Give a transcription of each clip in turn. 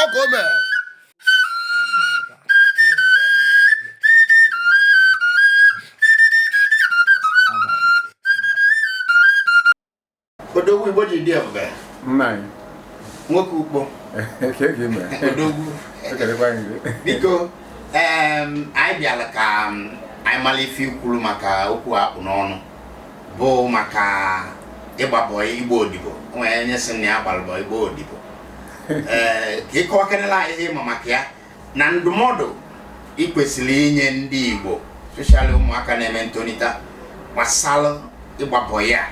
ọkaomee odogwu igbo ji dị ebube nna anyị nwoke ukpo kee ka ị mee odogwu ekelekwa anyị gị biko em, anyị bịara ka em, anyị mara ife ikwuru maka okwu a kpụ n'ọnụ bụ maka ịgba bọị ịgba odibo nwere onye sị na ya gbalụ bọị ịgba odibo ee ka ịkọwakarịla anyị ihe ịma maka ya na ndụmọdụ ị kwesịrị inye ndị igbo especially ụmụaka na-etonite gbasara ịgba bọị a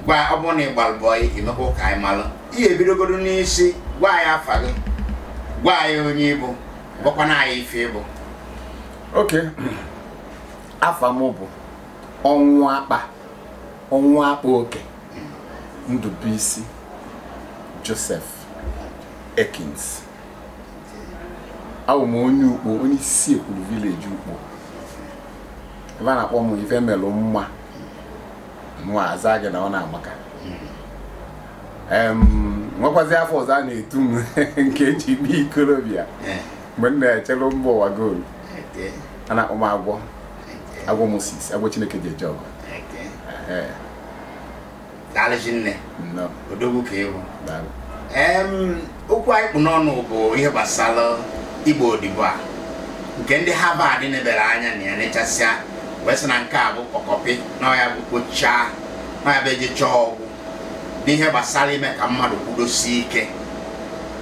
gwa ọ bụrụ na ị gbalụ bọị i mekwaa ka anyị malụ ị ya-ebidogodo n'isi gwa anyị afa gị gwa anyị onye ịbụ gwakwana anyị ife ịbụ okay afa m bụ Ọnwụakpa Ọnwụakpaoke Ndubuisi Joseph Ekins awụ m onye ukpo onye Isiekwulu village ukpo ebe a na-akpọ m ife melụ mma mụwa aza gị na ọ na-amaka Em, nwekwazi afa ọzọ a na-etu m nke eji kpa ikolobịa mgbe m na-echere mba ụwa goal a na-akpọ m agwọ agwọ Moses agwọ Chineke ji eje ọgụ daalụ rinne odogwu ka ịbụ okwu anyị kpụ n'ọnụ bụ ihe gbasara ịgba odibo a nke ndị Harvard nebara anya na ya nechasịa wee sị na nke a bụ kpọkọpị na ya bụ kpochaa na ya bụ ejechaa ọ gwụ n'ihe gbasara ime ka mmadụ kwudosie ike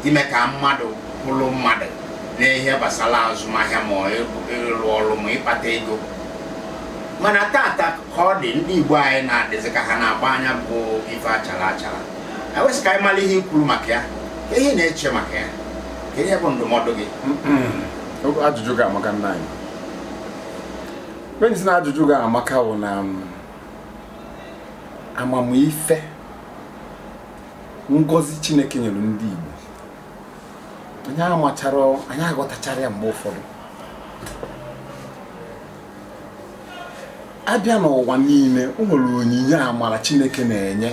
ime ka mmadụ bụrụ mmadụ n'ihe gbasara azụmahịa ma ịrụ ọrụ ma ịkpata ego mana tata ka ọ dị ndị Igbo anyị na-adịzi ka ha na-agbana ya bụ ife achara achara e wee sị ka anyị mara ihe ikwuru maka ya kee ihe ị na-eche maka ya kee ihe bụ ndụmọdụ gị ajụjụ gị amaka nna anyị onye si na ajụjụ gị amaka bụ na um, amamife ngozi chineke nyere ndị igbo anyị amacharọ anyị aghọtacharọ ya mgbe ụfọdụ a bịa n'ụwa niile o nwere onyinye amara chineke na-enye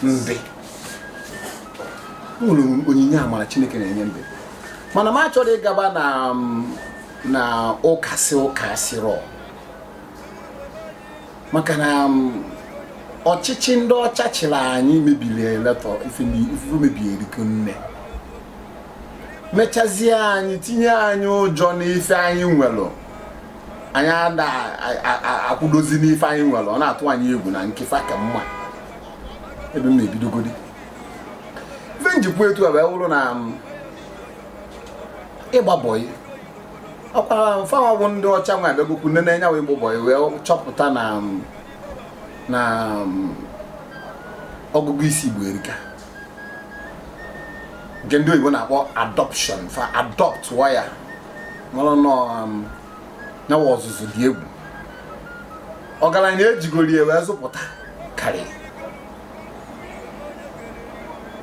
ndị o nwere onyinye amara chineke na-enye ndị mana m achọrọ ịgaba na na ụka sị ụka asịrọ maka na um, ọchịchị ndị ọcha chịrị anyị mebiri a lot of ife mebiri nne mechazie anyị tinye anyị ụjọ n'ife anyị nwere anyị ada akwụdozi n'ife anyị nwere ọ na-atụ anyị egwu na nke fa ka mma ebe m na-ebidogodi ife m ji kwuo etu a wee wụrụ na um, ịgba bọyị ọ kwa fanwa bụ ndị ọcha nwa abịagokwu nne na-enye wa ịgba bọyị wee chọpụta na na ọgụgụ isi igbo erika nke ndị oyibo na-akpọ adoption fa adopt wa ya mara na nya wụ ọzụzụ dị egwu ọgaranya ejigoro ya wee zụpụta karịa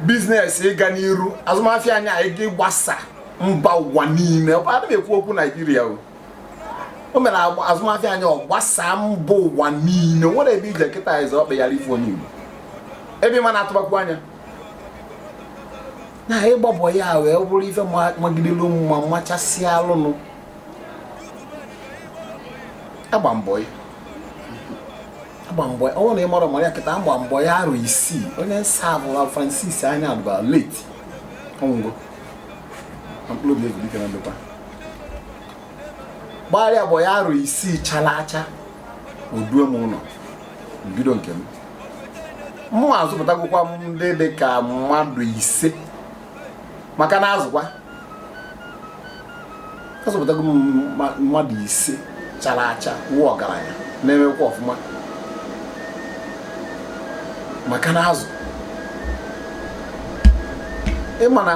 business ịga n'iru azụmahịa anyị ịga ịgbasa mba ụwa niile ana m ekwu okwu naijiria o o mere azụmahịa anyị ọ gbasaa mba ụwa niile nwere ebe ị je kịta ị zọ ọkpa yara ịfụ onye igbo ebe ị ma na-atụbakwu anya na ịgba bọyị a wee bụrụ ife magidelu mma machasị alụnụ agba m bọyị agba m bọyị ọ wụ na ị marọ mara ya kịta agba m bọyị arọ isii onye m savụlụ francis anyadụba late ọ nwụgo mkpụrụ obi ya zuru ike na ndokwa gbalụ ya bọyị arọ isii chala acha o duo m ụlọ m bido nke m mụnwa azụpụtagokwa m ndị dị ka mmadụ ise maka na azụkwa azụpụtago m mma- mmadụ ise chara acha wụ ọgaranya na-emekwa ọfụma maka na azụ ị ma na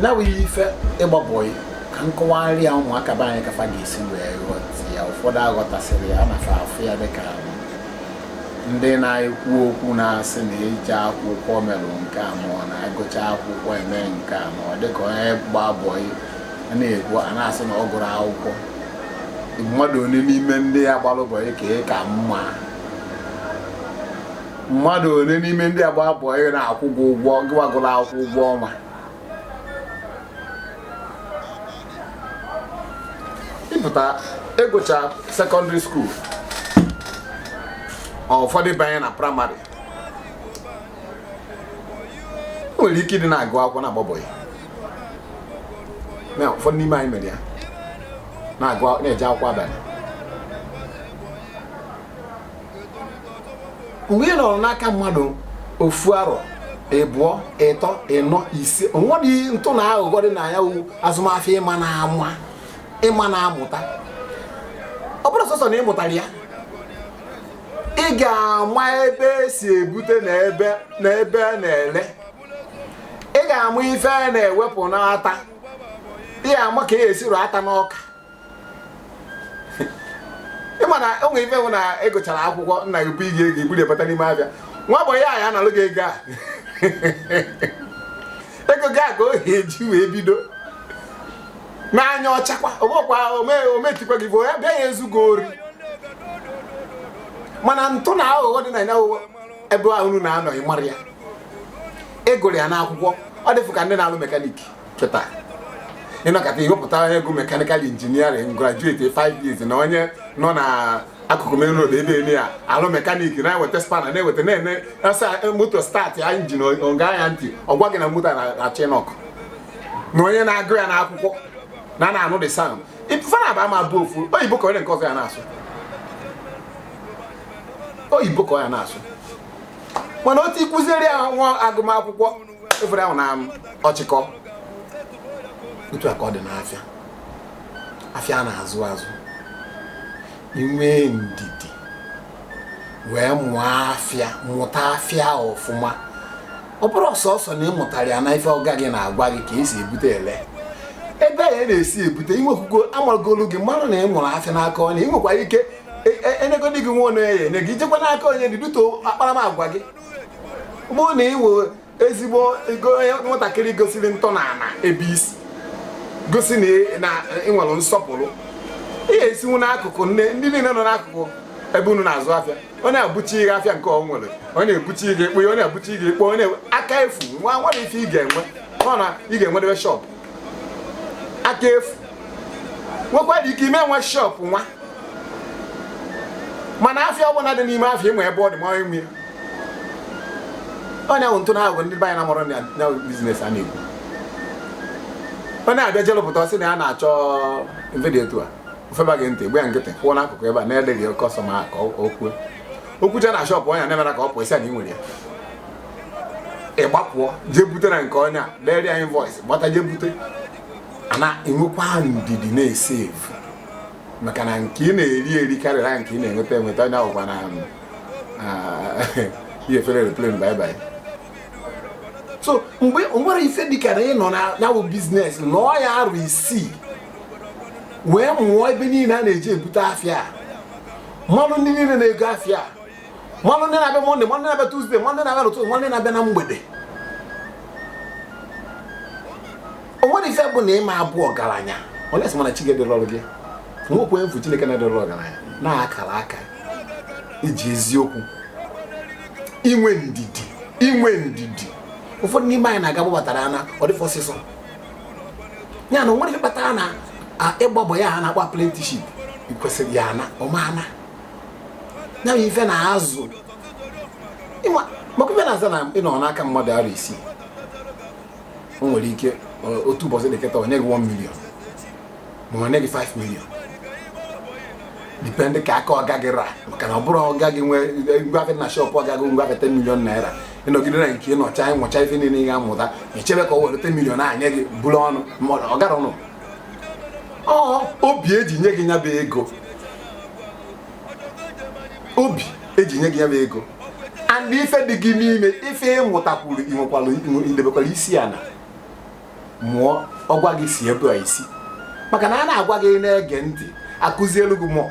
nya wụ ife ịgba bọyị ka m kọwarị ya ụmụaka be anyị ka fa ga-esi wee ghọta ya ụfọdụ aghọtasịrọ ya na fa afụ ya dịka ndị na-ekwu okwu na-asị na eji akwụkwọ merụ nke a ma ọ na-agụcha akwụkwọ eme nke a ma ọ dịka onye gba bọyị a na-ekwu a na-asị na ọ gụrụ akwụkwọ mmadụ one n'ime ndị a gbara bọyị ka ị ka mma mmadụ one n'ime ndị a gba bọyị na-akwụ gị ụgwọ gịwa gụrụ akwụkwọ ụgwọ ọnwa ị pụta ị gụcha secondary school ụfọdụ banye na primary nwere ike ịdị na-agụ akwụkwọ na-agba bọyị na ụfọdụ n'ime anyị mere ya na-eje akwụkwọ abanị mgbe ị nọrọ n'aka mmadụ ofu arọ ịbụọ ịtọ ịnọ ise o nwere ntụ na aghụghọ dị na ya bụ azụmafịa ịma na ama ịma na amụta ọ bụrụ sọsọ na ị mụtara ya ị ga-ama ebe esi ebute na ebe na ebe a na-ele ị ga-ama ife a na-ewepụ n'ata ị ga-ama ka e si rụ ata n'ọka ị ma na o nwere ife bụ na ị gụchara akwụkwọ nna gị bunye gị ego i buru ya bata n'ime afịa nwa bọyị ya analụ gị ego a ego gị a ka ọ ya-eji wee bido n'anya ọcha kwa ọ bụkwa ometikwa gị bụ ya bịa ya ezugo ori mana ntụ na aghụghọ dị na ya ebe a unu na-anọ ị mara ya ị gụrụ ya n'akwụkwọ ọ dịfụ ka ndị na-alụ mekaniki kịta ị nọkata i wepụta onye gụrụ mekanikal injiniarịn grajueti 5 years na onye nọ na akụkụ main road ebe eme ya alụ mekaniki na-eweta spana na-eweta na-ene asa moto startị ya injin ọ gee ya ntị ọ gwa gị na moto na-achọ ịnọkụ na onye na-agụ ya n'akwụkwọ na a na-anụ the sound fa n'ịbụọ ama abụ ofu oyibo ka onye nke ọzọ ya na-asụ oyibo ka ọ ya na-asụ mana otu ịkụziere ya nwa agụmakwụkwọ efere ahụ na ọchịkọ otu a ka ọ dị n'afịa afịa a na-azụ azụ inwe ndidi wee mụọ afịa mụta afịa ọfụma ọ bụrụ sọsọ na ị mụtara ya na ife ọga gị na-agwa gị ka esi ebute ele ebe a ya na-esi ebute inwekwugo amagolu gị marụ na ị mụrụ afịa n'aka onye ị nwekwara ike enwegodighị nwa onye ya enye gị i jekwa n'aka onye due to akparamagwa gị bụ na ị bụ ezigbo nwatakịrị gosiri ntọana ebe i si gosi na ị nwere nsọpụrụ ị ga-esinwu n'akụkụ ndị niile nọ n'akụkụ ebe unu na-azụ afịa onye ebuchie afịa nke ọ nwere onye ebuchie ekpo onye ebuchie ekpo ọ n'aka efu nwa nwere ife ị ga-enwe ọ na ị ga-enwedebe shọpụ aka efu nwekwara ike ị ma enwe shop nwa mana afịa ọbụna dị n'ime afịa ị ma ebe ọ dị ma onye nwe ya onye ahụ ntụ na aghụghọ ndị be anyị na-amụrụ na ya bụ biznes a na-ekwu onye afịa jelụpụta ọ sị na ya na-achọ ife dị etu a o feba gị ntị ị gba ya nkịtị kwụọ n'akụkụ ebe a na-edeghị kọstọma ka o kwue okwucha na shọpụ onye na-emere ka ọ pụọ ị sị ya na ị nwere ya ị gbapụọ jee bute na nke onye a dere ya invoice gbata jee bute a na-enwekwa ndidi na-esevu maka na nke ị na-eri eri karịrị nke ị na-enweta enweta onye ahụkwa na ihe efere aeroplane bye bye so mgbe o nwere ife dịka na ị nọ na ya bụ biznes lụọ ya arọ isii wee mụọ ebe niile a na-eje ebute afịa malụ ndị niile na-ego afịa malụ ndị na-abịa mọnde malụ ndị na-abịa tuzde malụ ndị na-abịa n'ụtụtụ malụ ndị na-abịa na mgbede o nwere ife bụ na ịma abụ ọgaranya unless mana chi gị ederọrọ gị nwekwa efu chineke na-edere ọgaranya na-akara aka iji eziokwu inwe ndidi inwe ndidi ụfọdụ n'ime anyị na-aga gbabatara ana ọ dịfọ ọsịsọ ya na o nwere ife kpatara na a- ịgba bọyị a ha na-akpọ apprenticeship ikwesịrị ya ana ọma ana ya bụ ife na-azụ maka ife na-aza na ịnọ n'aka mmadụ arọ isii o nwere ike otu ụbọchị dị ka taa o nye gị 1 million ma o nye gị 5 million dipendị ka aka ọga gị ra maka na ọ bụrụ ọga gị nwee ngwafe na shọpụ ọga gị ngwafe 10 million naira ịnọgide na nke ịnọcha ịmụcha ife niile ị ga-amụta echebe ka o were 10 million nye gị bụrụ ọnụ ọ gara ọnụ ọ obi eji nye gị nya bụ ego obi eji nye gị nya bụ ego and ife dị gị n'ime ife ịmụtakwuru inwekwara idebekwara isi ana mụọ ọ gwa gị si ebe a i si maka na a na-agwa gị na-ege ntị a kụzielu gị mụọ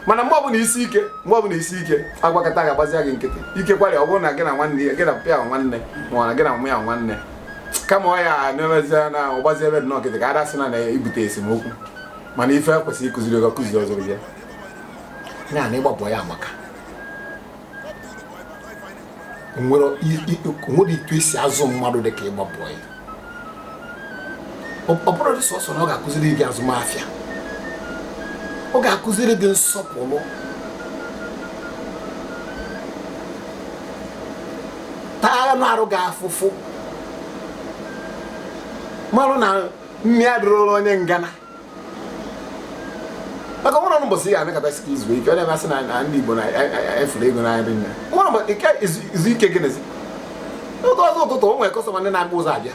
mana mgbe ọbụla isi ike mgbe ọbụla isi ike a gwakata gị a gbazia gị nkịtị ike kwari ọ bụrụ na gị na nwanne ya gị na mpa ya nwanne ma ọ na gị na mma ya nwanne kama ọ ya na-emezie na ọ gbaziebe gị nkịtị ka ada sị na na-ebute esemokwu mana ife kwesịrị ịkụziri gị ọ kụzirọzị ya ya na ịgba bọyị a maka nwere etu esi azụ mmadụ dị ka ịgba bọyị ọ bụrọdị sọsọ na ọ ga-akụziri gị azụmafịa ọ ga-akụziri gị nsọpụrụ taa anụ arụ gị afụfụ marụ na nni adịrọrọ onye ngana maka nwere ọnụ mbọsị ya anọkata sị ka izu ike ọ na-emasị na ndị Igbo na-afụrụ ego n'anya dị nne nwere mbọ ike izu ike gị nezi oge ọzọ ụtụtụ o nwere kọstọma ndị na-agba ụzọ abịa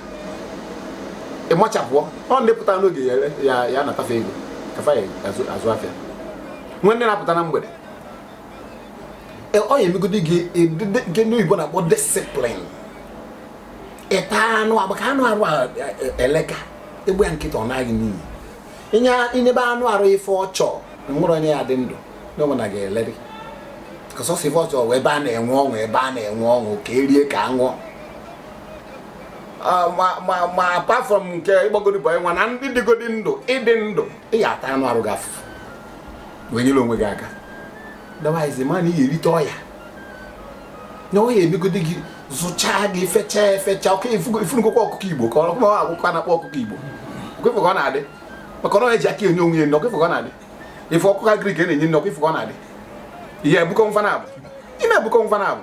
ịmachapụọ ọ ndị pụta n'oge ya ya anata fa ego ka fa ya azụ afịa nwee ndị na-apụta na mgbede e, ọ ya-emegodi gị nke ndị oyibo na-akpọ discipline ịta anụ agba ka anụ arụ e, e, eleka egbe ya nkịta ọ naghị n'iyi inye inyebe anụ arụ ife ọ chọ nwere onye ya dị ndụ na onwe na ga-eleri ka sọsọ ife ọ chọ wee ebe a na-enwe ọṅụ ebe a na-enwe ọṅụ ka e rie ka a ṅụọ Ah, ma apart from nke ịgbagodi bọị nwa na ịdịgodi ndụ ịdị ndụ ị ga-ata anụ arụ gị afụfụ wee nyere onwe gị aka otherwise ma na ị ga-erite ọ ya na ọ ya-emegodi gị zụchaa gị fechaa efecha ọkwa ị fụnụgokwa ọkụkọ Igbo ka ọkụkọ akwụkwọ a na-akpọ ọkụkọ Igbo ọkwa ị fụ ka ọ na-adị maka ọ na-eji aka enye onwe ya ọkwa ị fụ ka ọ na-adị ị fụ ọkụkọ agric a na-enye nri ọkwa ị fụ ka ọ na-adị ị ya-ebukọ mfa naabọ ị na-ebukọ mfa naabọ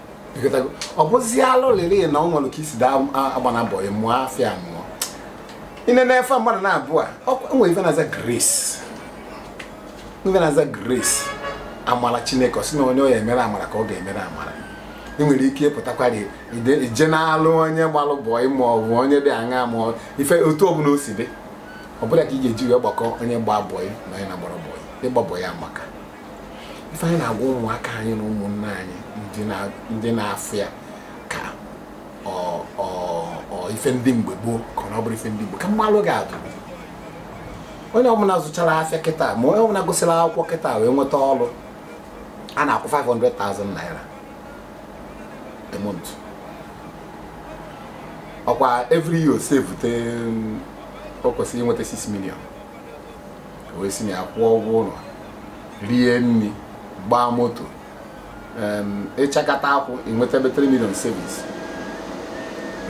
ọ bụzi alụlịrị na o nwere ka i si daa agbana bọị mụọ afịa mụọ ine na-efe mmadụ na-abụ e nwere ife na-aza grace ife na-aza grace amara Chineke ọ sị na onye ọ ya-emere amara ka ọ ga-emere amara ị nwere ike ịpụtakwara ije na-alụ onye gbalụ bọị ma ọ bụ onye dị aṅa ma ife otu ọbụla o si dị ọ bụrọ ka ị ga-eji wee gbakọ onye gba bọị na onye na-agbarọ bọị ịgba bọị amaka ife anyị na-agwa ụmụaka anyị na ụmụnna anyị ndị na-afụ ya ka ife ndị mgbe gboo na ọ bụrọ ife ndị mgbe ka m malụ gị atụ onye ọbụla zụchara afịa kịta ma onye ọbụla gụsịrị akwụkwọ kịta wee nweta ọrụ a na-akwụ 500,000 naira a month ọkwa every year o sevute o kwesịrị inweta 6 million wee si na ya kwụọ ụgwọ ụlọ rie nri gbaa moto ịchakata akwụ inweta ebe 3 million savings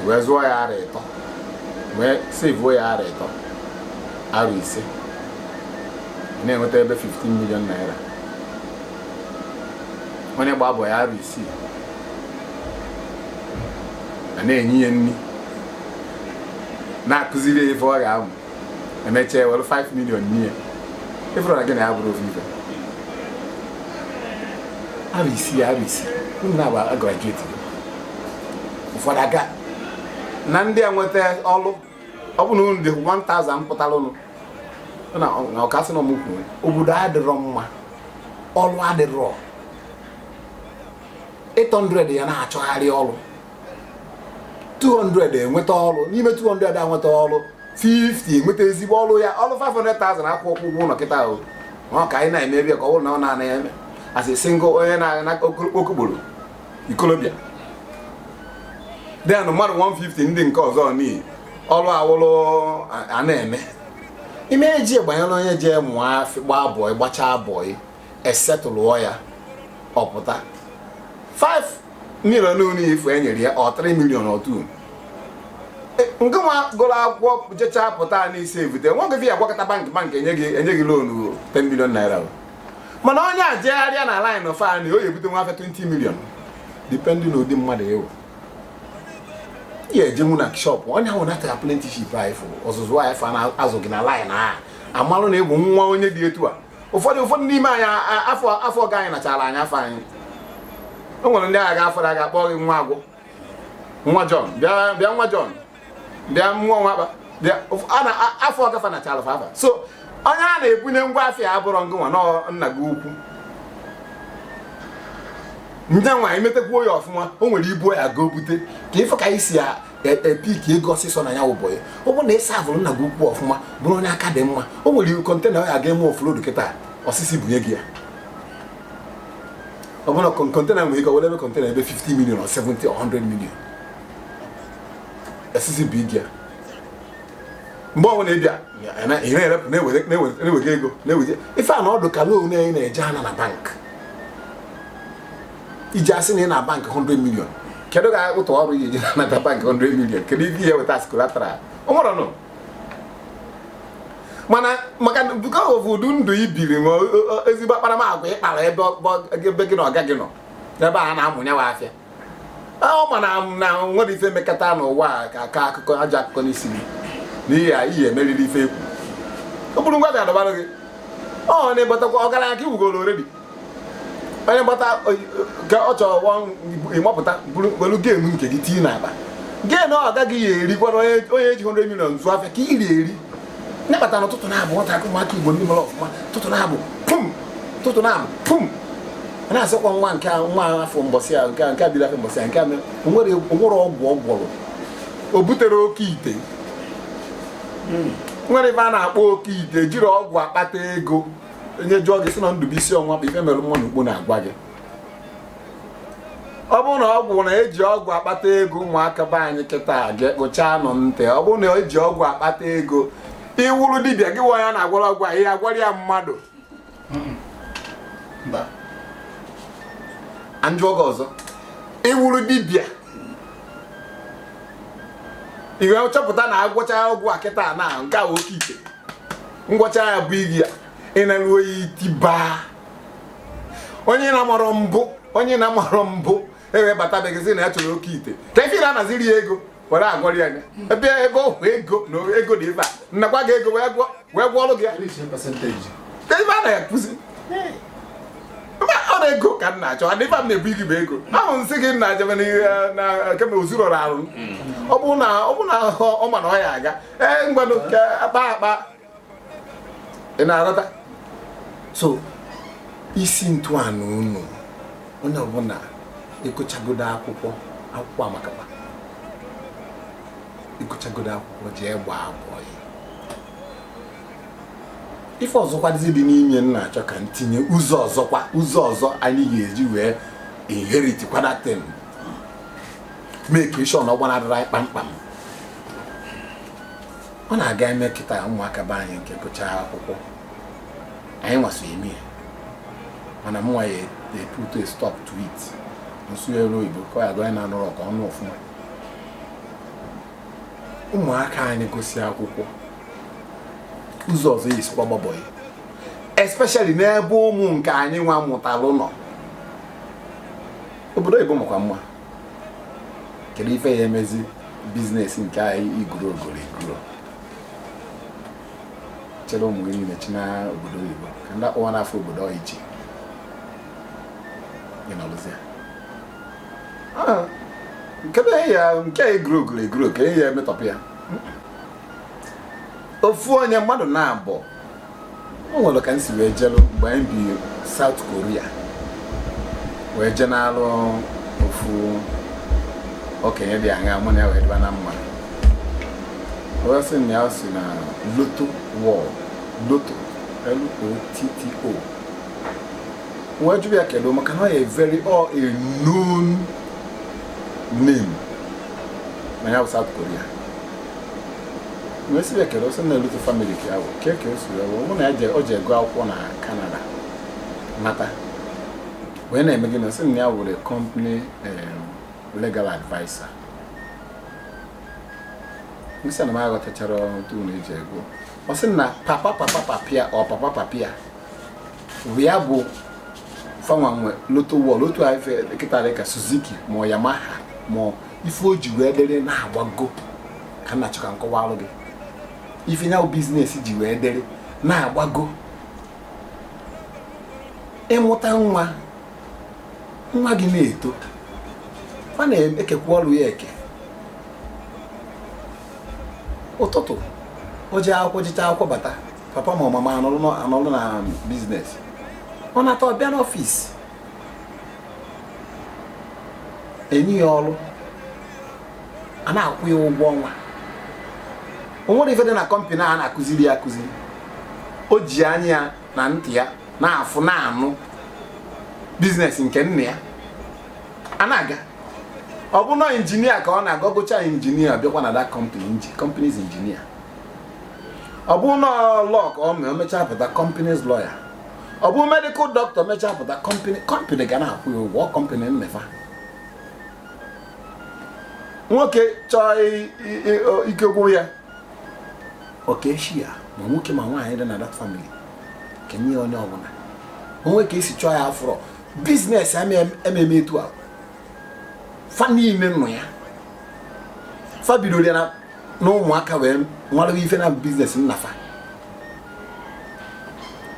wee zụọ ya arọ ịtọ wee sevuo ya arọ ịtọ arọ ise na-enweta ebe 15 million naira onye gbaa bọị arọ isii a na-enye ya nri na-akụziri ya ife ọ ga-amụ e mechaa e were 5 million nye ị fụrụ na gị na ya bụrụ ofu ife arọ isii ya arọ isii unu na-agba graduate gị ụfọdụ aga na ndị a nweta ọrụ ọ bụ na unu dị 1000 pụtara ụnụ na ọkasị na ọmụkwụ obodo adịrọ mma ọrụ adịrọ 800 ya na-achọgharị ọrụ 200 enweta ọrụ n'ime 200 a nweta ọrụ 50 enweta ezigbo ọrụ ya ọrụ 500,000 akwụ ọkwụ ụgwọ ụlọ kịta ahụ ọ ka anyị na-eme ebe ka ọ bụrụ na ọ na-ana ya eme as a single onye na-anọ okokporo ikolobịa then mmadụ 150 ndị nke ọzọ n'ihi ọrụ awụrụ a na-eme ime eji gbanyere onye jee mụọ afịa gbaa bọị gbachaa bọị esetụlụọ ya ọpụta 5 million niile ife e nyere ya ọ 3 million otu e, nke nwa gụrụ akwụkwọ jecha pụta n'isi evute nwa gị ya gwakọta bank bank enye gị enye gị loan 10 million naira mana onye a jegharịa na line of anyị o ebute ngwa afịa 20 million depending ụdị mmadụ ị wụ ya ejenwu na shop onye ahụ natara apprenticeship anyị fụ ọzụzụ anyị fa na-azụ gị na line a amalụ na ị bụ nwa onye dị etu a ụfọdụ ụfọdụ n'ime anyị afa afa ọga anyị nachara anyị afa anyị o nwere ndị a ga-afụrụ a ga-akpọ gị nwa agwọ nwa John bịa bịa nwa John bịa nwa Ọnwakpa bịa afa ọga fa nachara fa afa so onye a na-ebunye ngwa afịa abụrọ ngị nwa nna gị ukwu ngị nwa imetakwa ya ọfụma o nwere ibu ya ga ebute ka ị fụ ka anyị si epick ego ọsịsọ na ya ụbọchị ọ bụrụ na ị saavụrụ nna gị ukwu ọfụma bụrụ onye aka dị mma o nwere container ọ ya ga eme offload kịta ọ sị sị bunye gị ya ọ bụrụ na container nwere ike were ebe container ebe 50 million or 70 or 100 million ọ sị sị bunye gị ya mgbe ọ bụla ị bịa ị na-erepụ na-ewega ego na-ewega ife a na ọ dụ ka loan anyị na-eje ana na bank iji asị na ị na bank 100 million kedu ka ụtụ ọrụ iji nata bank 100 million kedu ebe ị ya-eweta collateral o nwerọ nụ mana maka because of ụdị ndụ i biri ma ezigbo akparamagwa ị kpara ebe ebe gị na ọga gị nọ ebe a na-amụnye ngwa afịa ọ ma na o nwerọ ife emekata n'ụwa a ka aka akụkọ aja akụkọ n'isi gị na ị ya ị ya-emeriri ife ekwu o buru ngwa ga dọbara gị onye gbatakwa ọgaranya ka ị wụgoro already onye gbata ka ọ chọrọ ị mapụta welu gain nke gị tinye n'akpa gain ka gị ya erikwana onye ji 100 million zụ afịa ka iri eri nya kpata na ụtụtụ na-abụ nwata akụ ụmụaka Igbo ndị mere ọfụma ụtụtụ na-abụ pum ụtụtụ na-abụ pum na-asịkwa nwa nke nwa afụ mbọsị a nke nke biri afụ mbọsị a nke o nwere ọgwụ ọ gwọrọ o butere oke ite hmm. nwere ebe a na-akpọ oke ite jiri ọgwụ akpata ego onye jụọ gị sị na Ndubuisi Ọnwakpa Ifemelunma n'Ukpo na-agwa gị ọ bụrụ na ọgwụ na eji ọgwụ akpata ego ụmụaka be anyị kịta gekpuchaa nụ ntị ọ bụrụ na eji ọgwụ akpata ego ị wụrụ dibịa gị nwa ya na-agwọrọ ọgwụ ahụ ị ya agwọrọ ya mmadụ m jụọ gị ọzọ ị wụrụ dibịa ị chọpụta na agwọcha ọgwụ a kịta na nke a oke ite ngwọcha ya bụ igi ya ị na-alụ oyi tibaa onye na-amarọ mbụ onye na-amarọ mbụ ewee batabeghị sị na ya chọrọ oke ite ka ife na anaziri ya ego were agwọrị anya ebe ebe ọhụ ego na ego dị ebe a a nakwa gị ego wee gwọ wee gwọọrọ gị ya ka ife a na-ekwuzi mba ọ na ego ka m na-achọ adị ife m na-ebu igi bụ ego ahụ m sị gị na-achebe na kemgbe ozurọrọ arụ ọ bụrụ na ọ bụrụ na ọ ma na ọ ya aga ee ngwanụ ka a kpa akpa ị na-aghọta so isi ntụanụ unu onye ọbụla ị gụchagodu akwụkwọ akwụkwọ amakakwa ị gụchagodu akwụkwọ jee gbaa bọị ife ọzọkwa dịzi dị n'ime m na-achọ ka m tinye ụzọ ọzọkwa ụzọ ọzọ anyị ga-eji wee inherit kwa that thing make sure na ọ gbanarịrọ anyị kpamkpam ọ na-aga eme kịta ụmụaka be anyị nke gụcha akwụkwọ anyị nwa si eme ya mana mụnwa ya e-put a stop to it nsụgharị oyibo ka ya gụọ na-anụrụ ọka ọnụ ọfụma ụmụaka anyị gụsịa akwụkwọ ụzọ ọzọ esikwa gbaa bọị especially n'ebe ụmụ nke anyị nwa mụtalụ nọ obodo oyibo makwa mma kedu ife ya emezi business nke anyị igoro ogoro igoro chịrị ụmụ gị niile chịnaa obodo oyibo ka ndị akpọwa n'afọ obodo ọyịchi ị nọrụzie Ah, nke na ya nke a egoro ogoro egoro ka enyi ya emetọpụ ya ofu onye mmadụ na-abụ o nwere ka m si wee jelu mgbe anyị bi South Korea wee jee n'alụ ofu okenye dị aṅa mụ na ya wee dịba na mma wee sị na ya si na Lotto World Lotto L-O-T-T-O wee jụrụ ya kedu maka na ọ a very well known name na ya bụ South Korea wee sị ya kedu ọ sị na Lotto family ka ya bụ ke ka o si wee wụ na ya je- o jee gụọ akwụkwọ na Canada nata wee na-eme gịnị ọ sị na ya wụrụ company legal adviser m sị na m aghọtachara otu unu eji ego ọ sị na papa papa papa ya ọ papa papa ya ya bụ fa nwa nwe loto wọl otu kịta dị ka Suzuki ma ọ Yamaha ma ife o ji wee dịrị na-agbago ka m na-achọ ka m kọwaalụ gị ife ya bụ biznes ji wee dịrị na-agbago ịmụta nwa nwa gị na-eto a na-ekekwa ọrụ ya eke ụtụtụ o jee akwụkwọ jechaa akwụkwọ bata papa ma ọ mama anọlụ na biznes ọ nata ọ bịa n'ọfịs e nye ya ọrụ a na-akwụ ya ụgwọ ọnwa o nwere ife dị na kọmpanị a na-akụziri ya akụziri o ji anya ya na ntị ya na-afụ na-anụ biznes nke nna ya a na-aga ọ bụ na injinia ka ọ na-aga ọ gụchaa injinia ọ bịakwa na that company company's injinia ọ bụ na law ka ọ mee o mechaa pụta company's lawyer ọ bụ medical doctor mechaa pụta company company ga na-akwụ ya ụgwọ company nna fa nwoke chọọ i- i- i- o- ike gwụ ya o keshie ya ma nwoke ma nwaanyị dị na that family kenye ya onye ọbụla o nwee ka e si chọọ ya afụrọ biznes ememe etu a fa niile nọ ya fa bidoro ya na na ụmụaka wee mara ife na biznes nna fa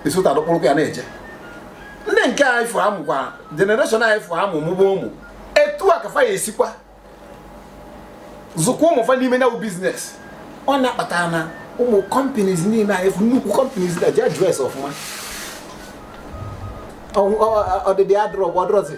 esota dọkpụrụkwa ya na-eje ndị nke a ị fụ amụkwa generation a ị fụ amụ mụba ụmụ etu a ka fa ya-esikwa zụkwa ụmụ fa n'ime ya bụ biznes ọ na-akpata na ụmụ companies niile a ị fụ nnukwu companies na ji adịrịsi ọfụma ọdịdị adịrọ bụ ọdịrọzi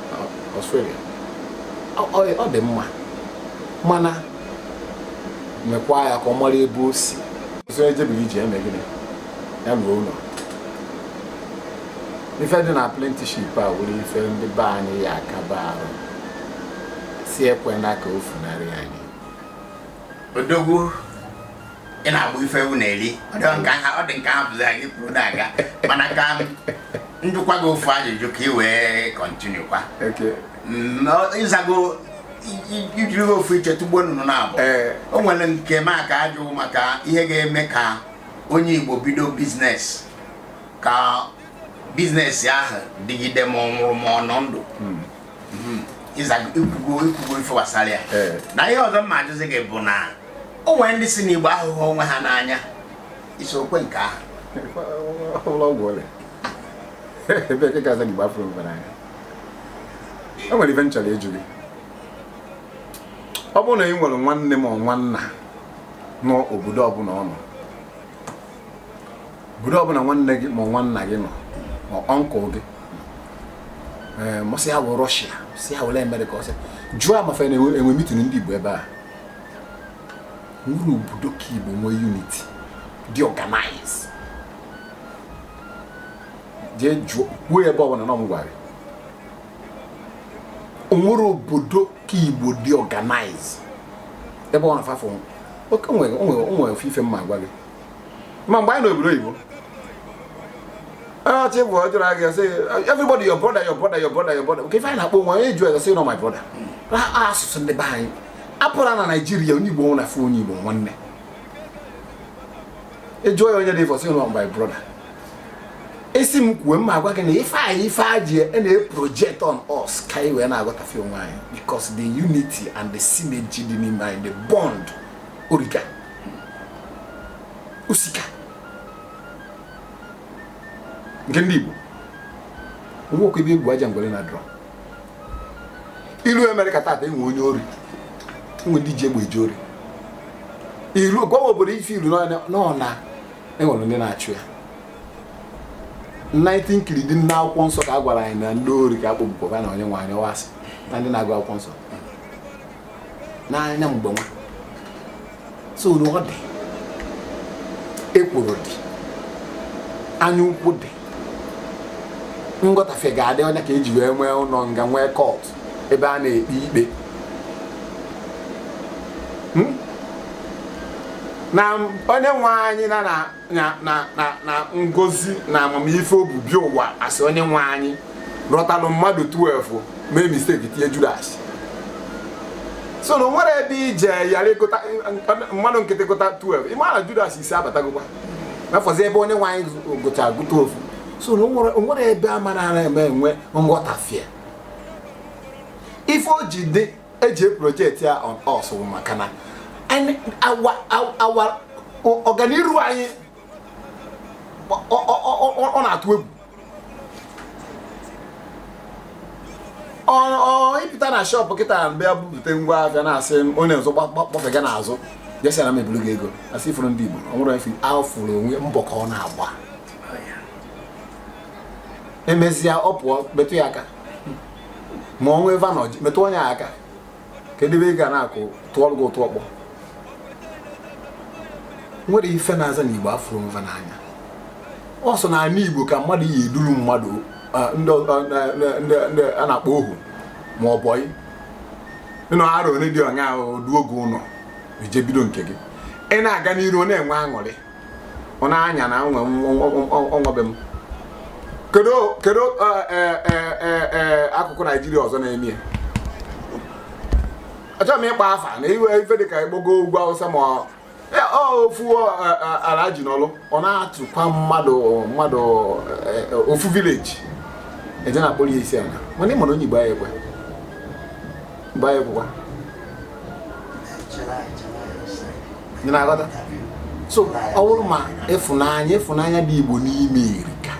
Australia ọ dị mma mana mekwa ya ka ọ mara ebe o si so e jebiri ije e mee gịnị a naa ụlọ ife dị na apprenticeship a wụrụ ife ndị be anyị ya-akaba arụ sị e kwena ka o funarị anyị odogwu ị na-egbu ife ewu na-eri ọ dị m ka a ha ọ dị m ka a hapụzie gị kwuru na-aga mana ka m jụkwa gị ofu ajụjụ ka ị wee continue kwa Okay. Mm, ọ- ị zago i- i- i jiri ofu iche tụgbuo nnụnụ naabọ Ee. o nwere nke m aka ajụ maka ihe ga-eme ka onye Igbo bido biznes ka biznes ahụ dịgide ma ọ nwụrụ ma ọ nọ ndụ hmm, i kwugo i kwugo ife gbasara ya eh. na ihe ọzọ m ga-ajụzi gị bụ na o nwere ndị sị na Igbo ahụghị onwe ha n'anya isiokwu nke ahụ ebee ka ị ga-aza na Igbo afụrọ onwe n'anya o nwere ife m chọrọ ịjụ gị ọ bụrụ na ị nwere nwanne ma nwanna n'obodo ọbụla ọ nọ obodo ọbụla nwanne gị ma nwanna gị nọ ma uncle gị ee ma sị ya wụ Russia sị ya wụla America ọsị jụọ ma fa na-enwe mitin ndị igbo ebe a nwere obodo ka igbo nwee unity dị organize jee jụọ kwuo ebe ọbụla na ọ mụ gwara gị o nwere obodo ka igbo dị organize ebe ọ na-afafụ oke o nwere ofu ife m ma-agwa gị ma mgbe anyị nọ obodo oyibo ọchị bụ ọjọrọ agị sị everybody your brother your brother your brother your brother nke ife anyị na-akpọ onwe anyị eju eze sị na ọ my brother asụsụ ndị be anyị apụla na Nigeria onye igbo na-afụ onye igbo nwanne ị jụọ ya onye dị ifa ọ sị na ọ my brother esi m kwuo m ma-agwa gị na ife anyị ife a ji e na-eproject on us ka anyị wee na-aghọtafie onwe anyị because the unity and the synergy dị n'ime anyị the bond o rika o sika nke ndị Igbo o nwekwa ebe e gbu aja ngwere na-adịrọ i luo America tata enwe onye ori enwe ndị ji egbe eje ori i luo gwawa obodo ife i luo nọ na enwere ndị na-achụ ya 19 kiri dị n'akwụkwọ nsọ ka a gwara anyị na ndị ori ka akpọgbukwa na onye nwe anyị ọwasị na ndị na-agụ akwụkwọ nsọ n'anya mgbe nwa so na ọ dị ekworo dị anya ukwu dị nghọtafie ga-adị ọ ya ka eji wee nwee ụlọ nga nwee court ebe a na-ekpe ikpe hmm? na onye nwe anyị na na na na na na ngozi na amamife o bu bịa ụwa a sị onye nwe anyị rọtalụ mmadụ 12 mee mistake tinye judas so na o nwere ebe ije yara ịgụta mmadụ nkịtị gụta 12 ị ma na judas ise abatagokwa n'afọzi ebe onye nwe anyị gụcha gụta ofu so na o nwere- o nwere ebe a mara na a ma-enwe nghọtafie ife o ji dị eji project ya on us maka na awa ọganiru anyị ọ na-atụ egwu ị pụta na shop kịta bịa bupụta ngwa ahịa na-asị onye ọzọ gbafega n'azụ je sị na mebiri gị ego a sị ị fụrụ ndị Igbo o nwere ife afụrụ onwe mbọ ka ọ na-agba emezia ọ pụọ metụ ya aka ma o nwee ebe a nọ metụ onye aka kedu ebe ị ga na-akụ tụọrụ gị ụtụ ọkpọ nwere ife na-aza na igbo afụrọ onwe fa n'anya ọ sọ n'ala igbo ka mmadụ yi eduru mmadụ ndị a na-akpọ ohu ma ọ boy ị nọ arọ ole dị onye ahụ duo gị ụlọ ị je bido nke gị ị na-aga n'iru ọ na-enwe aṅụrị ọ na-anya na ọ nwa be m kedu kedu akụkụ naijiria ọzọ na-eme ya achọrọ m ịkpọ afa na iwe ife dịka ịgbogo ugwu awụsa ma ofu alhaji nọlụ ọ na-atụkwa mmadụ mmadụ ofu village eje na-akpọrọ ya isi ala mana ị ma na onye igbo aya ekwe mba aya ekwekwa ị na-aghọta so ọ bụrụ ma ịfụnanya ịfụnanya dị igbo n'ime erika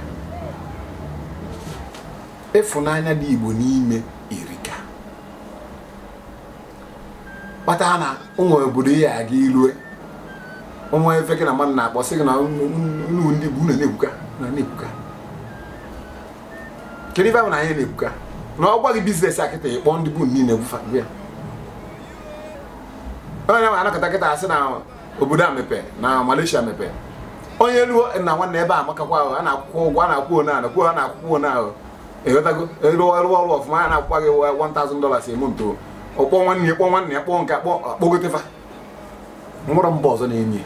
ịfụnanya dị igbo n'ime erika kpata na o nwee obodo ị ya aga i lue ụmụ ife gị na mmadụ na-akpọ sị gị na unu ndị igbo unu na-ekwuka na na-ekwuka kedu ife ahụ na anyị na-ekwuka na a gwa gị business a kịta ị kpọọ ndị igbo niile gbufa gbu ya onye ma anakọta kịta a sị na obodo a mepee na Malaysia mepee onye ruo na nwanne ebe a makakwa ahụ a na-akwụkwa ụgwọ a na-akwụ one ahụ kwuo a na-akwụkwa one ahụ ị ghọtago ị rụọ ọrụ ọfụma a na-akwụkwa gị 1000 dollars a month ọ kpọọ nwanne ya kpọ nwanne ya kpọọ nke a kpọọ akpọgote fa nwero mba ọzọ na-eme ya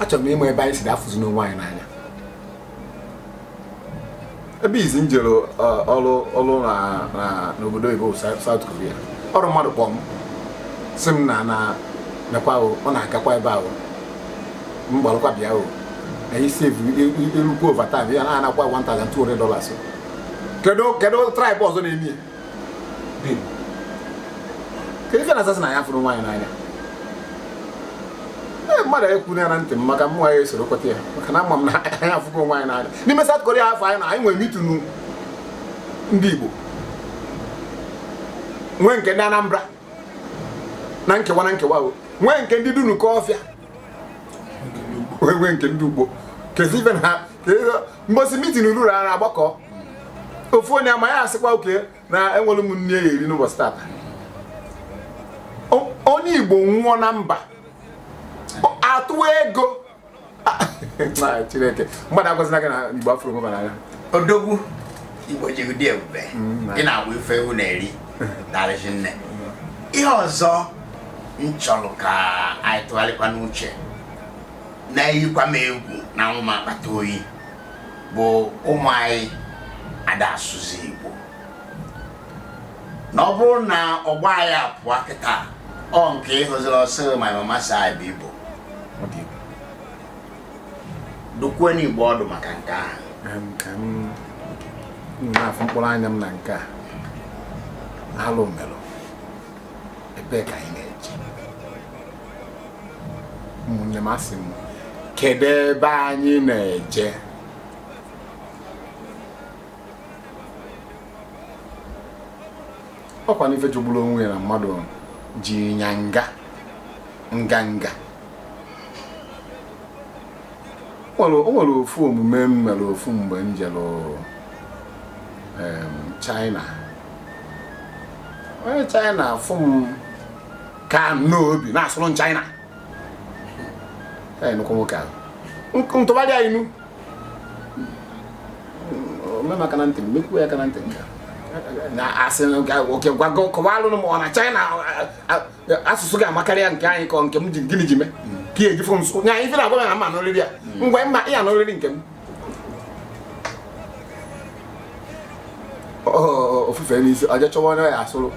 achọrọ m ịma ebe anyị si afụzi n'onwe anyị n'anya ebe izizi m jere ọrụ ọrụ n'obodo oyibo South Korea ọ bụ mmadụ kpọọ m sị m nna nekwa ọ na-agakwa ebe a o m gbalụkwa bịa o anyị sef alụkwu overtime ya na-anakwa 1200 dollars kedu kedu tribe ọzọ na-eme ya kedu ife a na-asị na anyị afụghị onwe anyị n'anya ee mmadụ ekwuna ya na ntị m maka mụ aya esoro kweta ya maka na ama m na anyị afụgo onwe anyị n'anya n'ime South Korea afụ anyị nọ anyị nwere meeting ndị Igbo nwee nke ndị Anambra na nkewa na nkewa nwee nke ndị dunukọfịa nwee nke ndị ukpo kezi ibe na ha mbọsị meeting ruru a na-agbakọ ofu onye ama ya asịkwa okay na enwero m nni ya eri n'ụbọchị tata onye igbo nwụọ na mba atụọ ego chineke mmadụ agwazina gị na igbo afụro onwe fa n'anya odogwu igbo ji ụdị ebube mm, ị na-agba ife ewu na-eri darịzi nne ihe ọzọ m chọrọ ka anyị tụgharịkwa n'uche na-eyikwa m egwu na-awụ m akpata oyi bụ ụmụ anyị ada asụzi igbo na ọ bụrụ na ọgbọ anyị a pụọ kịta ọ nke ị hụziri ọ sị my mama sị anyị bụ igbo dụkwuo ndị igbo ọdụ maka nke ahụ ka m na-afụ mkpụrụ anya m na nke a alụ melụ ebe ka anyị na-eje ụmụnne m asị m kedu ebe anyị na-eje ọkwa n'ife jọgburu onwe ya na mmadụ ji ya anga nganga o nwere ofu omume m mere ofu mgbe m jere China onye China afụ m ka n'obi na-asụrụ m China anyị nụkwa nwoke ahụ ntụgharị anyị nu o mee m aka na ntị m mekwuo ya aka na ntị nka na asị okay ngwa gị kọwalụ m ọ na China asụsụ gị amakarịa nke anyị ka ọ nke m ji gịnị ji mee ka ihe ejifu nso nya ife na-agwa ya ma n'oriri ya ngwa mma ịya n'oriri nke m o fufe isi o jee chọwa onye ya asụrụ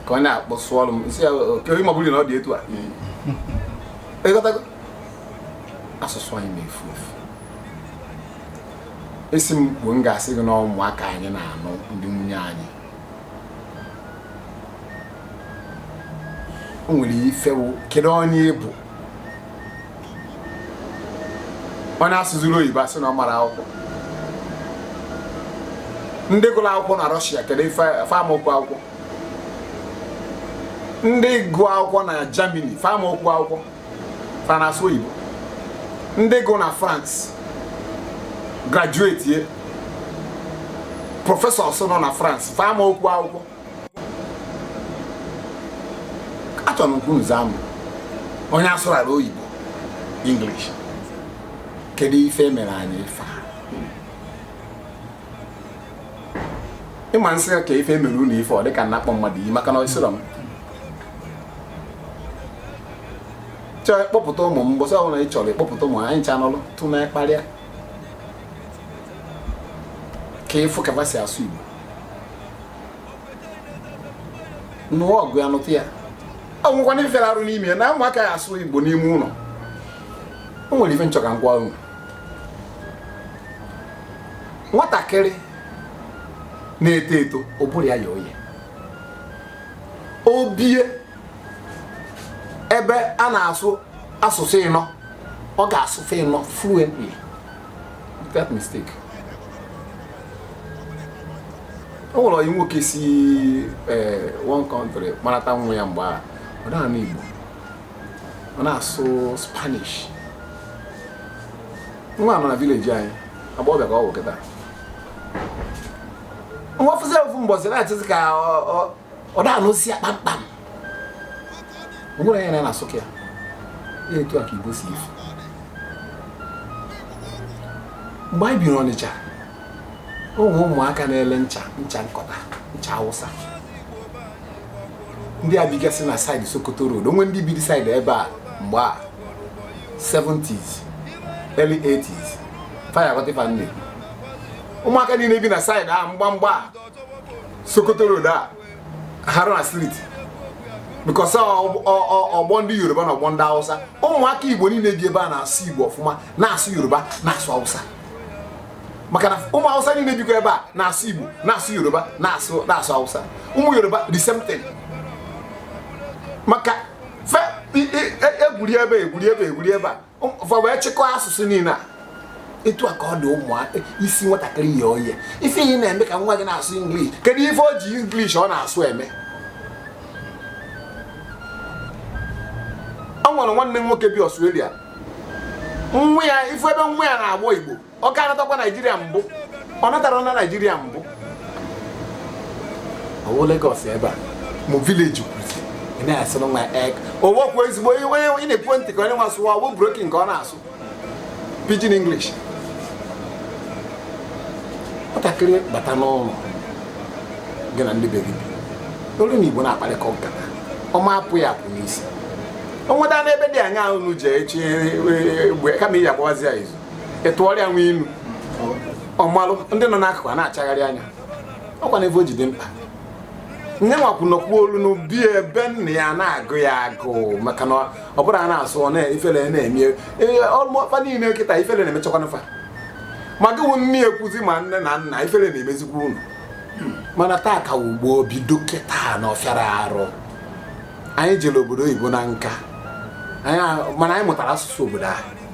ka ọ na-akpọ sụọrụ m m sị ya okay ma ọ bụrụ na ọ dị etu a ị ghọtago asụsụ anyị na-efu efu esi m kwuo m ga-asị gị na ụmụaka anyị na-anụ ndị nwunye anyị o nwere ife ọ wụ kedu onye ị bụ onye asụziri oyibo a sị na ọ mara akwụkwọ ndị gụrụ akwụkwọ na Russia kedu ife amaokwu akwụkwọ ndị gụ akwụkwọ na Germany fa amaokwu akwụkwọ fa na-asụ oyibo ndị gụ na France graduate ye professors nọ na France fa amaokwu akwụkwọ achọrọ m ka unu zaa m onye asụrara oyibo English kedu ife e mere anyị ife a ị ma m sị ka ife e mere unu ife ọ dịka m na-akpọ mmadụ iyi maka na ọ sịrọ m chọọ ịkpọpụta ụmụ m mbọsị ọbụla ị chọrọ ịkpọpụta ụmụ anyị ncha nọlụ tụ na kparịa ka ị fụ ka e si asụ Igbo nụọ ọgụ ya nụta ya o nwekwanụ ife rara arụ n'ime ya na ụmụaka ya asụ igbo n'ime ụlọ o nwere ife m chọ ka m gwa unu nwatakịrị na-eto eto ụbụrụ ya ye oye o bie ebe a na-asụ asụsụ ịnọ ọ ga-asụ fa ịnọ fluently that mistake o nwere onye nwoke si eh, one country kpọlata nwa ya mgbe a ọ na-anụ Igbo ọ na-asụ Spanish nwa nọ na village anyị agbọghọbịa ka ọ bụ kịta nwa fụzi ofu mbọsị na-achọzi ka ọ na-anụzi ya kpamkpam o nwere ya na na-asụ ka ya ya etu a ka igbo si efu mgbe anyị biri ọnịcha ụmụ ụmụaka na-ele ncha ncha nkọta ncha awụsa ndị a bigasị na side sokoto road o nwere ndị biri side ebe a mgbe a 70s early 80s faya ghọtịfa nne ụmụaka niile bi na side a mgbamgba a sokoto road a Haruna Street because ọgbọ ndị Yoruba na ọgbọ ndị Hausa ụmụaka Igbo niile bi ebe a na-asụ Igbo ọfụma na-asụ Yoruba na-asụ Hausa maka na ụmụ Hausa niile bikwa ebe a na-asụ Igbo na-asụ Yoruba na-asụ na-asụ Hausa ụmụ Yoruba the same thing maka egwuri ebe egwuri ebe egwuri ebe a fa wee chịkọọ asụsụ niile a etu a ka ọ dị ụmụaka isi nwatakịrị ye oye ife ihe na-eme ka nwa gị na-asụ English kedu ife o ji English ọ na-asụ eme ọ nwere nwanne m nwoke bi Australia nwa ya ị fụ ebe nwa ya na-agbọ igbo ọ ka natakwa naijiria mbụ ọ natara na naijiria mbụ ọ wụ Lagos ebe a mụ village kwuzi ị na-asụrụ nwa ek owokwu ezigbo onye onye ị na-ekwu ntị ka onye nwa sụwa ọ wụ broken ka ọ na-asụ pidgin English nwatakịrị bata n'ụlọ gị na ndị be gị bi olu na igbo na-akparịkọ nkata ọ ma apụ ya apụ n'isi o nweta n'ebe dị anya unu ji echi egbe kama iji agbawazi ya izu ị tụọrọ nwa inu ọ malụ ndị nọ n'akụkụ a na-achagharị anya ọkwa na ebe o jide mkpa nye nwakwu nọkwu olu n'ubi ebe nna ya na-agụ ya agụụ maka na ọ bụrụ a na-asụ ifere na-eme ọlụmọfa niile kịta ifere na-emechakwa nfa ma gị wụ nne ya ekwuzi ma nne na nna ifere na-emezikwa unu mana taa ka wụ gboo bido kịta na ọ fịara arụ anyị jere obodo oyibo na nka mana anyị mụtara asụsụ obodo ahụ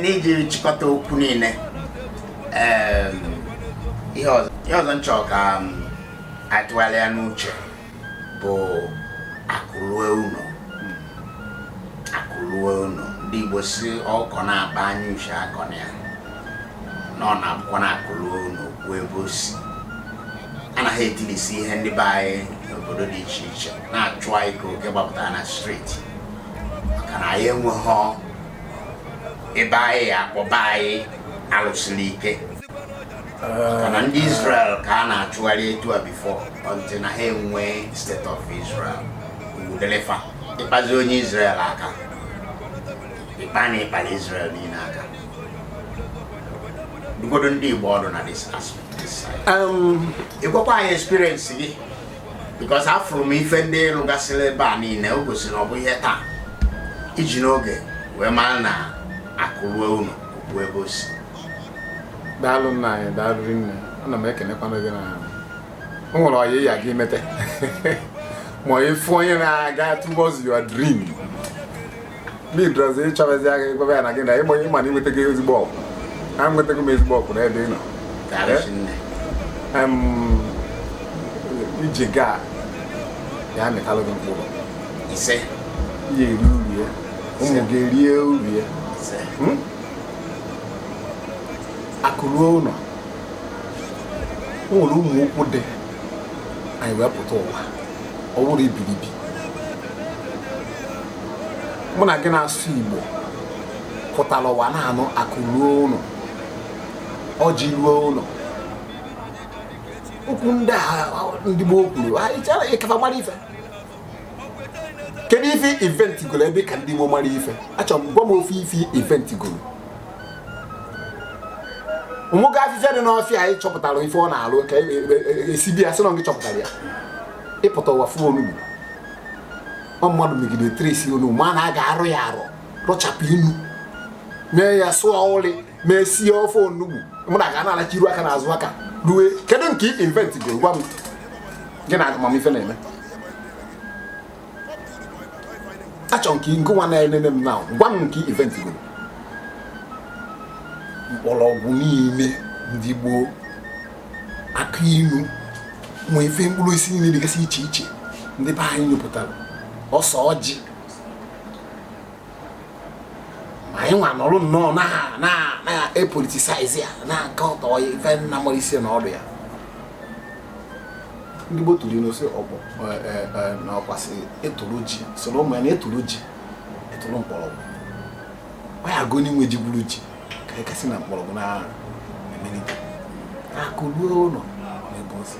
n'iji chịkọta okwu niile ihe ọzọ m chọ ka a tụgharịa n'uche bụ akụ lue ụlọ akụ lue ụlọ ndị Igbo sị ọkọ na-akpa anya uche akọna ya na ọ na-abụkwa na akụ lue ụlọ o kwuo ebe o si anaghị ekilisi ihe ndị be anyị n'obodo dị iche iche na-achụ anyị ka oke gbapụtara na street maka na anyị enweghị ebe anyị ya akpọba anyị alụsiri ike maka na ndị Israel ka a na-achụgharị etu a before until na ha enwe state of Israel udelefa ịkpazi onye Israel aka ịkpa na ị kpara Israel niile aka dụgodu ndị Igbo ọdụ na this aspect ịgwakwa anyị experience gị because afụrụ m ife ndị ị rụgasịrị ebe a niile o gosiri ọ bụghị taa i ji n'oge wee mara na akụ ruo ụnọ o kwuo ebe o si daalụ nna anyị daalụ nne ana m ekenekwana gị na o nwere ọyị ya gị mete ma ị fụ onye na-aga towards your dream lidrozi ịchọrọzi agha ịgwaba ya na gị na ịgba onye mana inweta gị ezigbo okwu ha nwetago m ezigbo okwu n'ebe ị nọ Em, ije gị a ya amịtalụ gị mkpụrụ ise ya eri uru ya ụmụ gị erie uru ya ise Hmm? akụ ruo ụlọ o nwere ụmụ okwu dị anyị wee pụta ụwa ọ bụrụ ibilibi mụ na gị na-asụ igbo pụtara ụwa na-anụ akụ ruo ụlọ ọjị ruo ụlọ okwu ndị a ndị gboo kwuru ị ka fa mara ife kedu ife ị inventgoro ebe ị ka ndị gboo mara ife achọrọ m gwa m ofu ife ị inventgoro ụmụga afịfịa dị n'ọfịa anyị chọpụtara ife ọ na-alụ ka esi e, e, e, bi ya sị na gị chọpụtara ya ị pụta ụwa fụ onugbu ọ mmadụ megide trace onugbu ma na a ga-arụ ya arụ rụchapụ inu mee ya sụọ uli wee sie ofe onugbu mụ na gị na-alacha iru aka na azụ aka rue kedu nke ị inventgoro gwa m gị na amamife na-eme achọ m ka ngị nwa na-enene m na gwa m nke ị inventgoro mkpọrọgwụ niile ndị gboo akụ ilu ma ife mkpụrụ osisi niile dịgasị iche iche ndị be anyị nyopụtara ose ọjị ma anyị nwa nọrọ nnọọ na-epoliticize ya na-akatọ ya ife anyị na-amarọ isi na ọdụ ya ndị Igbo tụrụ ilu sị ọkpọ e, e, e, na ọkwa sị ị tụrụ ji sịrị ụmụ ya na ị tụrụ ji ị tụrụ mkpọrọgwụ ọ ya-abụ onye nwe ji gwuru ji ka anyị kasị na mkpọrọgwụ na emelite akụ ruo ụlọ n'ebe ozi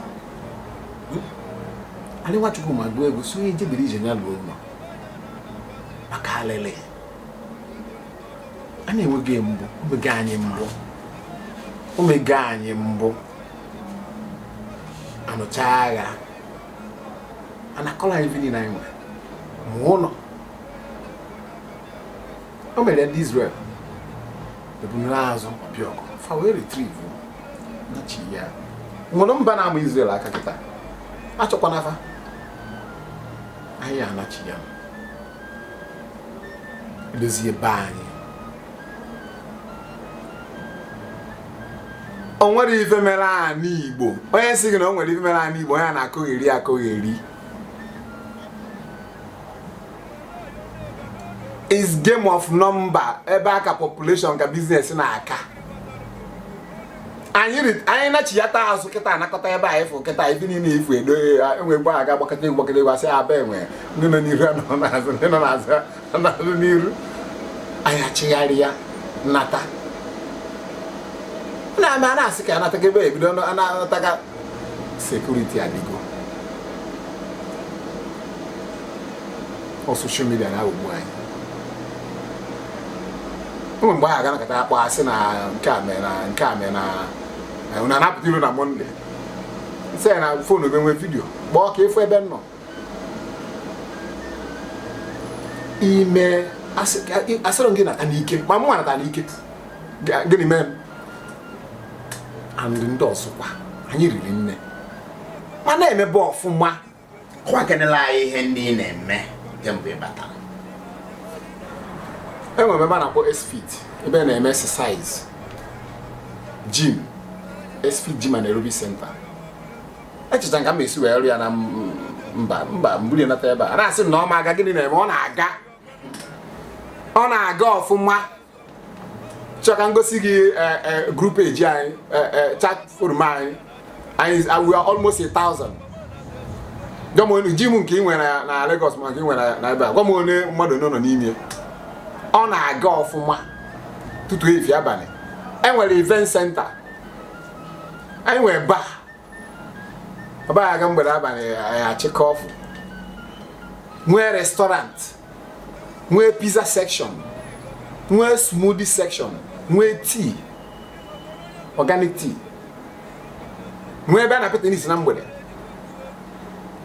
anyị nwachukwu ma gụọ egwu sị onye jebiri ije ya ruo ụlọ maka alele a na-enweghị mbụ o mego anyị mbụ o mego anyị mbụ anụcha agha anakọlọ anyị ife niile anyị nwere ma ụlọ o mere ndị Izrel ebunuru azụ ọbịa ọgụ fa wee retrieve nachiya nwere mba na-ama Izrel aka kịta achọkwana fa anyị nachiya dozie be anyị o nwere ife mere anị Igbo onye sị gị na o nwere ife mere anị Igbo onye na-akọgheri akọgheri is game of number ebe ka population ka business na-aka anyị anyị nachiyata azụ kịta anakọta ebe a ị fụ kịta ife niile ifu edo enwe gba aga gbakọta gbakọta egwu asị aba enwe ndị nọ n'iru nọ n'azụ ndị nọ n'azụ nọ n'iru anyị achịgharị ya nata na ama na-asị ka anataga ebe ebido anataga security adịgo ọ social media na-aghọgbu anyị o nwee mgbe ị ga-anọkata a kpọọ sị na nke a mee na nke a mee na unu anapụta ilo na Monday m sị ya na phone were video kpọọ ka ị fụ ebe m nọ ime asịrọ gị nata n'ike ma mụ nata n'ike gịnị mee m and ndị ọzọkwa anyị riri nne ma na-emebe ọfụma kọwakenelụ anyị ihe ndị ị na-eme kemgbe ị batara enwere m ebe a na-akpọ esfit ebe a na-eme exercise gym esfit gym and aerobic center echecha ka m esi wee rụọ ya na mba mba m buru nata ebe a na-asị na ọ ma aga gịnị na-eme ọ na-aga ọ na-aga ọfụma chọọ ka m gosi gị eh, eh, group page anyị eh, eh, chat forum anyị anyị is- we are almost a thousand gwa m gym nke ị nwere na- na Lagos ma nke ị nwere na- na ebe a gwa m one mmadụ one nọ n'ime ọ na-aga ọfụma ụtụtụ efifie abalị enwere event center anyị nwere bar aba aga mgbede abalị anyị achịkọ ofu nwee restaurant nwee pizza section nwee smoothie section nwee tea organic tea nwee ebe a na-apịta n'isi na mgbede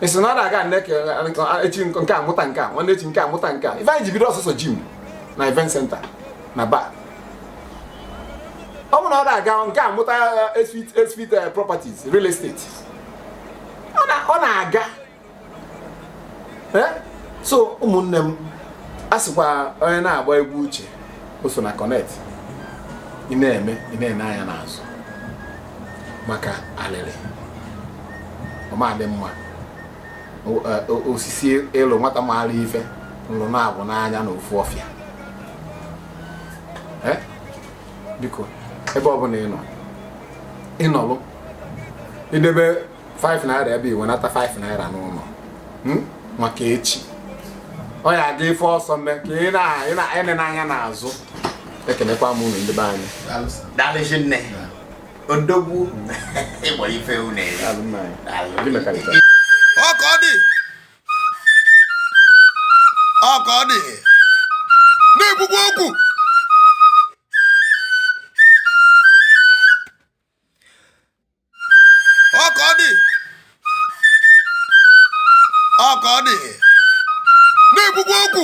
esi na ọ na-aga echi nke a mụta nke a nwanne echi nke a mụta nke a ife anyị ji bido ọ sọsọ gym na event center na bar ọ bụ na ọ na-aga nke a mụta Xfit eh, eh, properties real estate ọ na-aga eh? so ụmụnne m a sịkwa onye na-agba egwu uche o so na connect ị na-eme ị na-ene anya n'azụ maka alịlị ọ ma adị mma eh, osisi elu nwata maara ife nlụ na-abụ n'anya na ofu ọfịa eh? biko ebe ọ bụla ị nọ ị nọlụ i debe 5 naira ebe i wenata 5 naira n'ụnọ hmm? maka echi ọ ya aga ife ọ sọ mee ka ị na-ene anya n'azụ ekenekwa m unu ndị be anyị daalụzị nne odogwu ịgbọ ife unu ọ ka ọ dị ọ ka ọ dị na-ekwukwa okwu ọ ka ọ dị ọ ka ọ dị na-ekwukwa okwu